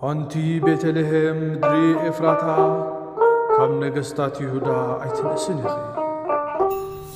ኣንቲ ቤተልሔም ምድሪ ኤፍራታ፣ ካብ ነገስታት ይሁዳ ኣይትንእስን ኢኺ።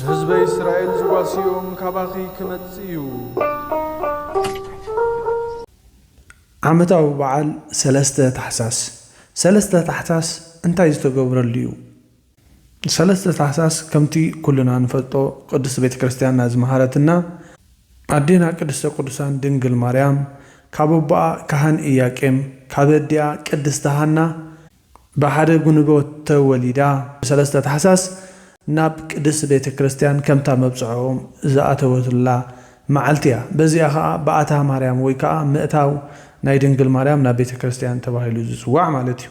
ንህዝበይ እስራኤል ዝጓስዮም ካባኺ ክመጽእ እዩ። ዓመታዊ በዓል ሰለስተ ታሕሳስ ሰለስተ ታሕሳስ እንታይ ዝተገብረሉ እዩ? ሰለስተ ታሕሳስ ከምቲ ኩልና ንፈልጦ ቅድስት ቤተ ክርስቲያንና ዝመሃረትና ኣዴና ቅድስተ ቅዱሳን ድንግል ማርያም ካብ ኣቦኣ ካህን ኢያቄም ካብ ኣዲኣ ቅድስቲ ሃና ብሓደ ጉንቦ ተወሊዳ ብሰለስተ ታሕሳስ ናብ ቅድስት ቤተ ክርስቲያን ከምታ መብጽዓኦም ዝኣተወትላ መዓልቲ እያ በዚኣ ከኣ በኣታ ማርያም ወይ ከኣ ምእታው ናይ ድንግል ማርያም ናብ ቤተ ክርስቲያን ተባሂሉ ዝጽዋዕ ማለት እዩ።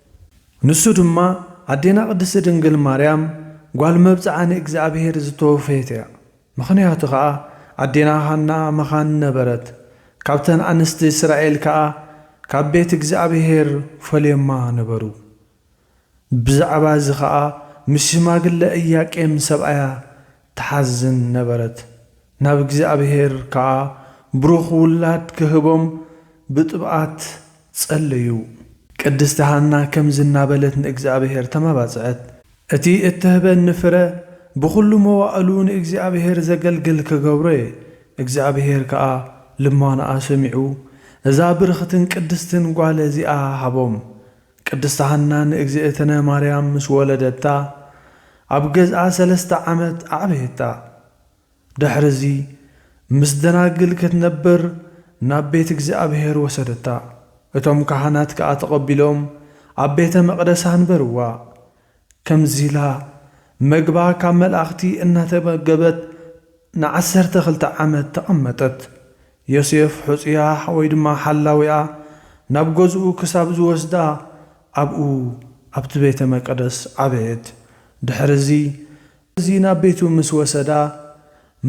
ንሱ ድማ ኣዴና ቅድስቲ ድንግል ማርያም ጓል መብጽዓ ንእግዚኣብሔር ዝተወፈየት እያ። ምኽንያቱ ከኣ ኣዴና ሃና መኻን ነበረት፣ ካብተን ኣንስቲ እስራኤል ከኣ ካብ ቤት እግዚኣብሔር ፈልዮማ ነበሩ። ብዛዕባ እዚ ከኣ ምስ ሽማግለ እያቄም ሰብኣያ ትሓዝን ነበረት። ናብ እግዚኣብሄር ከኣ ብሩኽ ውላድ ኪህቦም ብጥብኣት ጸለዩ። ቅድስቲ ሃና ከምዚ እናበለት ንእግዚኣብሄር ተማባጽዐት። እቲ እትህበኒ ፍረ፣ ብኹሉ መዋእሉ ንእግዚኣብሄር ዘገልግል ክገብሮ እየ። እግዚኣብሄር ከኣ ልማኖኣ ሰሚዑ፣ እዛ ብርኽትን ቅድስትን ጓል እዚኣ ሃቦም። ቅድስት ሃና ንእግዝእትነ ማርያም ምስ ወለደታ ኣብ ገዝኣ ሰለስተ ዓመት ኣዕበየታ። ድሕርዚ ምስ ደናግል ክትነብር ናብ ቤት እግዚኣብሔር ወሰደታ። እቶም ካህናት ከኣ ተቐቢሎም ኣብ ቤተ መቕደስ ኣንበርዋ። ከምዚ ኢላ መግባ ካብ መልኣኽቲ እናተመገበት ንዓሰርተ ክልተ ዓመት ተቐመጠት። ዮሴፍ ሑጹያ ወይ ድማ ሓላዊኣ ናብ ገዝኡ ክሳብ ዝወስዳ ኣብኡ ኣብቲ ቤተ መቀደስ ዓበየት። ድሕርዚ ስለዚ ናብ ቤቱ ምስ ወሰዳ፣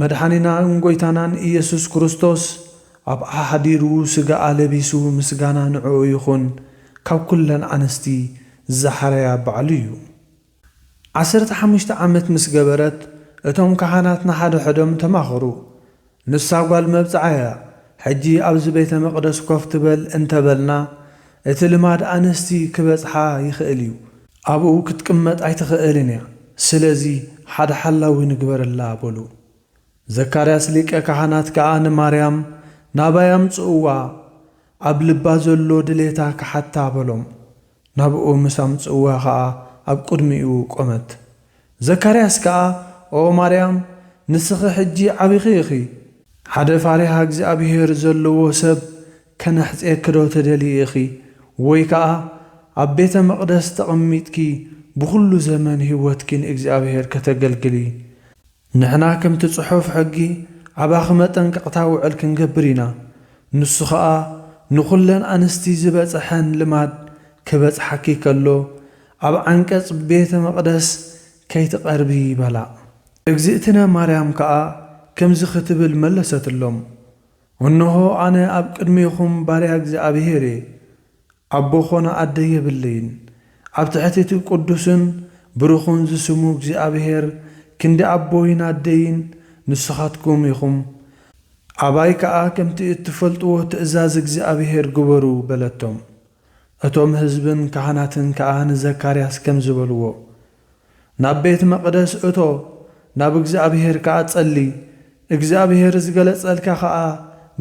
መድሓኒናን ጎይታናን ኢየሱስ ክርስቶስ ኣብኣ ሓዲሩ ስጋኣ ለቢሱ ምስጋና ንዕኡ ይኹን ካብ ኩለን ኣንስቲ ዛሓርያ ባዕሉ እዩ። ዓሰርተ ሓሙሽተ ዓመት ምስ ገበረት እቶም ካህናት ንሓደሐዶም ተማኸሩ ንሳ ጓል መብጽዓ እያ። ሕጂ ኣብዚ ቤተ መቕደስ ኮፍ ትበል እንተ በልና፣ እቲ ልማድ ኣንስቲ ኺበጽሓ ይኽእል እዩ። ኣብኡ ክትቅመጥ ኣይትኽእልን እያ፣ ስለዚ፣ ሓደ ሓላዊ ንግበረላ በሉ። ዘካርያስ ሊቀ ካህናት ከኣ ንማርያም፣ ናባይ ኣምጽእዋ፣ ኣብ ልባ ዘሎ ድሌታ ኺሓታ በሎም። ናብኡ ምስ ኣምጽእዋ ኸኣ ኣብ ቅድሚኡ ቆመት። ዘካርያስ ከኣ ኦ ማርያም ንስኺ ሕጂ ዓቢኺ ኢኺ፣ ሓደ ፋሪሃ እግዚኣብሄር ዘለዎ ሰብ ከነሕጽየኪዶ ትደልዪ ኢኺ ወይ ከኣ ኣብ ቤተ መቕደስ ተቐሚጥኪ ብኹሉ ዘመን ህይወትኪ ንእግዚኣብሄር ከተገልግሊ ንሕና ከምቲ ጽሑፍ ሕጊ ኣባኺ መጠንቀቕታ ውዕል ክንገብር ኢና፣ ንሱ ኸኣ ንኹለን ኣንስቲ ዝበጸሐን ልማድ ክበጽሓኪ ከሎ ኣብ ዓንቀጽ ቤተ መቕደስ ከይትቐርቢ በላ። እግዝእትነ ማርያም ከኣ ከምዚ ክትብል መለሰትሎም፣ እንሆ ኣነ ኣብ ቅድሜኹም ባርያ እግዚኣብሔር እየ፣ ኣቦ ዀነ ኣደ የብለይን። ኣብ ትሕቲ እቲ ቕዱስን ብሩኽን ዝስሙ እግዚኣብሄር፣ ክንዲ ኣቦይን ኣደይን ንስኻትኩም ኢኹም። ኣባይ ከኣ ከምቲ እትፈልጥዎ ትእዛዝ እግዚኣብሄር ግበሩ፣ በለቶም። እቶም ህዝብን ካህናትን ከኣ ንዘካርያስ ከምዚ በልዎ፣ ናብ ቤት መቕደስ እቶ፣ ናብ እግዚኣብሄር ከኣ ጸሊ፣ እግዚኣብሄር ዝገለጸልካ ኸኣ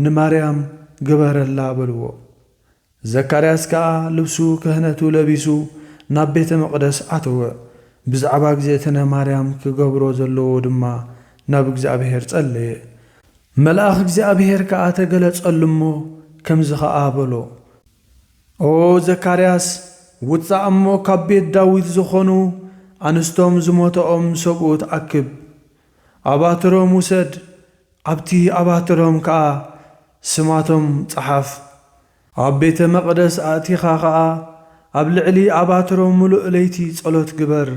ንማርያም ግበረላ፣ በልዎ። ዘካርያስ ከኣ ልብሱ ክህነቱ ለቢሱ ናብ ቤተ መቕደስ ኣተወ፣ ብዛዕባ እግዝእትነ ማርያም ክገብሮ ዘለዎ ድማ ናብ እግዚኣብሔር ጸለየ። መልኣኽ እግዚኣብሔር ከኣ ተገለጸሉ እሞ ከምዚ ኸኣ በሎ፣ ኦ ዘካርያስ ውጻእ እሞ ካብ ቤት ዳዊት ዝኾኑ ኣንስቶም ዝሞተኦም ሰብኡት ኣክብ፣ ኣባትሮም ውሰድ ኣብቲ ኣባትሮም ከኣ ስማቶም ጸሓፍ። ኣብ ቤተ መቕደስ ኣእቲኻ ኸኣ ኣብ ልዕሊ ኣባትሮም ምሉእ ለይቲ ጸሎት ግበር።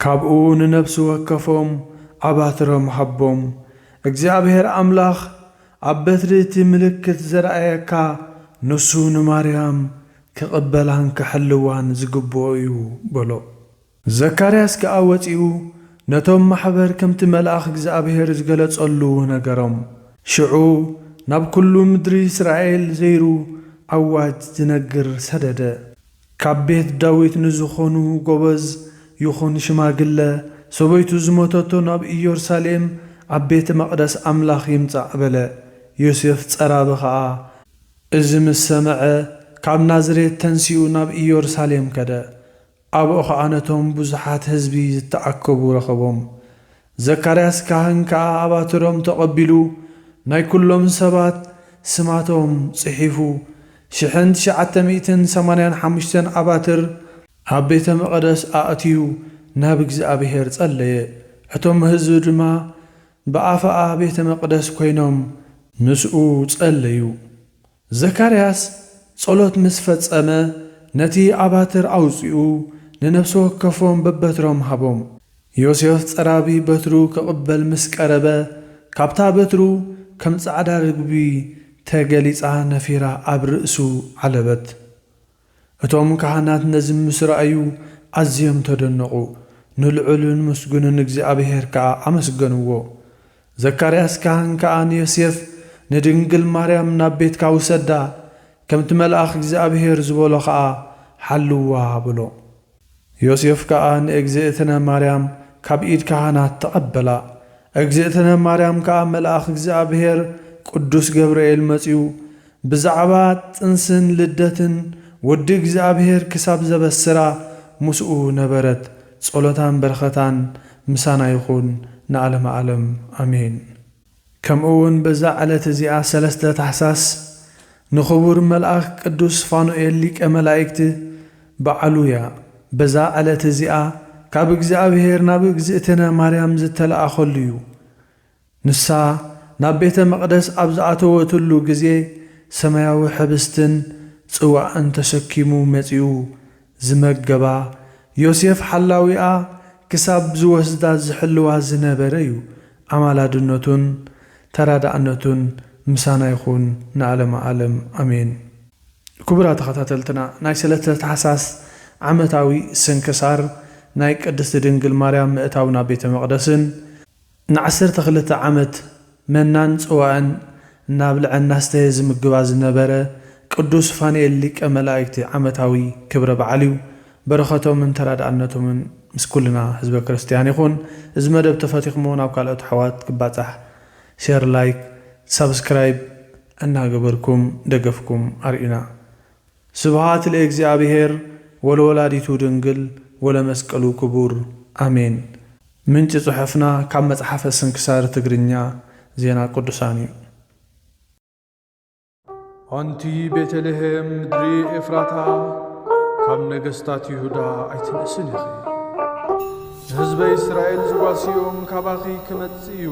ካብኡ ንነፍሲ ወከፎም ኣባትሮም ሃቦም። እግዚኣብሄር ኣምላኽ ኣብ በትሪ እቲ ምልክት ዘርኣየካ ንሱ ንማርያም ክቕበላን ክሕልዋን ዝግብኦ እዩ በሎ። ዘካርያስ ከኣ ወጺኡ ነቶም ማሕበር ከምቲ መልኣኽ እግዚኣብሄር ዝገለጸሉ ነገሮም። ሽዑ ናብ ኵሉ ምድሪ እስራኤል ዘይሩ ኣዋጅ ዝነግር ሰደደ። ካብ ቤት ዳዊት ንዝዀኑ ጐበዝ ይኹን ሽማግለ፣ ሰበይቱ ዝሞተቶ ናብ ኢየሩሳሌም ኣብ ቤተ መቕደስ ኣምላኽ ይምጻእ በለ። ዮሴፍ ጸራቢ ኸኣ እዚ ምስ ሰምዐ ካብ ናዝሬት ተንሲኡ ናብ ኢየሩሳሌም ከደ። ኣብኡ ኸኣ ነቶም ብዙሓት ህዝቢ ዝተኣከቡ ረኸቦም። ዘካርያስ ካህን ከኣ ኣባትሮም ተቐቢሉ ናይ ኵሎም ሰባት ስማቶም ጽሒፉ፣ ሽሕን ትሽዓተ ሚእትን ሰማንያን ሓሙሽተን ኣባትር ኣብ ቤተ መቐደስ ኣእትዩ ናብ እግዚኣብሔር ጸለየ። እቶም ህዝቢ ድማ ብኣፋ ቤተ መቕደስ ኮይኖም ምስኡ ጸለዩ። ዘካርያስ ጸሎት ምስ ፈጸመ፣ ነቲ ኣባትር ኣውጺኡ ንነፍሲ ወከፎም በበትሮም ሃቦም። ዮሴፍ ጸራቢ በትሩ ክቕበል ምስ ቀረበ፣ ካብታ በትሩ ከም ጻዕዳ ርግቢ ተገሊጻ ነፊራ ኣብ ርእሱ ዓለበት። እቶም ካህናት ነዚ ምስ ረኣዩ ኣዝዮም ተደነቑ፣ ንልዑልን ምስጉንን እግዚኣብሄር ከኣ ኣመስገንዎ። ዘካርያስ ካህን ከኣ ንዮሴፍ፣ ንድንግል ማርያም ናብ ቤትካ ውሰዳ፣ ከምቲ መልኣኽ እግዚኣብሄር ዝበሎ ኸኣ ሓልዋ በሎ። ዮሴፍ ከኣ ንእግዝእትነ ማርያም ካብ ኢድ ካህናት ተቐበላ። እግዝእትነ ማርያም ከኣ መልኣኽ እግዚኣብሔር ቅዱስ ገብርኤል መጺኡ ብዛዕባ ጥንስን ልደትን ወዲ እግዚኣብሔር ክሳብ ዘበስራ ምስኡ ነበረት። ጸሎታን በረኸታን ምሳና ይኹን ንኣለመ ኣለም ኣሜን። ከምኡ ውን በዛ ዕለት እዚኣ ሰለስተ ታሕሳስ ንኽቡር መልኣኽ ቅዱስ ፋኑኤል ሊቀ መላእክት በዓሉ እያ። በዛ ዕለት እዚኣ ካብ እግዚኣብሔር ናብ እግዝእትነ ማርያም ዝተለኣኸሉ እዩ። ንሳ ናብ ቤተ መቕደስ ኣብ ዝኣተወትሉ ግዜ ሰማያዊ ሕብስትን ጽዋእን ተሰኪሙ መጺኡ ዝመገባ ዮሴፍ ሓላዊኣ ክሳብ ዝወስዳ ዝሕልዋ ዝነበረ ዩ ኣማላድነቱን ተራዳእነቱን ምሳና ይኹን ንኣለመ ኣለም ኣሜን። ክቡራት ተኸታተልትና ናይ ሰለተ ታሕሳስ ዓመታዊ ስንክሳር ናይ ቅድስቲ ድንግል ማርያም ምእታው ናብ ቤተ መቅደስን፣ ንዓሰርተ ክልተ ዓመት መናን ጽዋእን እናብልዐ እናስተየ ዝምግባ ዝነበረ ቅዱስ ፋኑኤል ሊቀ መላእክቲ ዓመታዊ ክብረ በዓል እዩ። በረኸቶምን ተራድኣነቶምን ምስ ኩልና ህዝበ ክርስትያን ይኹን። እዚ መደብ ተፈቲኹምዎ ናብ ካልኦት ኣሕዋት ክባጻሕ ሸር ላይክ ሳብስክራይብ እናገበርኩም ደገፍኩም ኣርእዩና። ስብሃት ለእግዚኣብሔር ወለወላዲቱ ድንግል ወለመስቀሉ ክቡር ኣሜን። ምንጪ ጽሑፍና ካብ መጽሓፈ ስንክሳር ትግርኛ ዜና ቅዱሳን እዩ። ኣንቲ ቤተልሄም ምድሪ ኤፍራታ ካብ ነገስታት ይሁዳ ኣይትንእስን ኢኺ። ንህዝበ እስራኤል ዝጓስዮም ካባኺ ክመጽእ እዩ።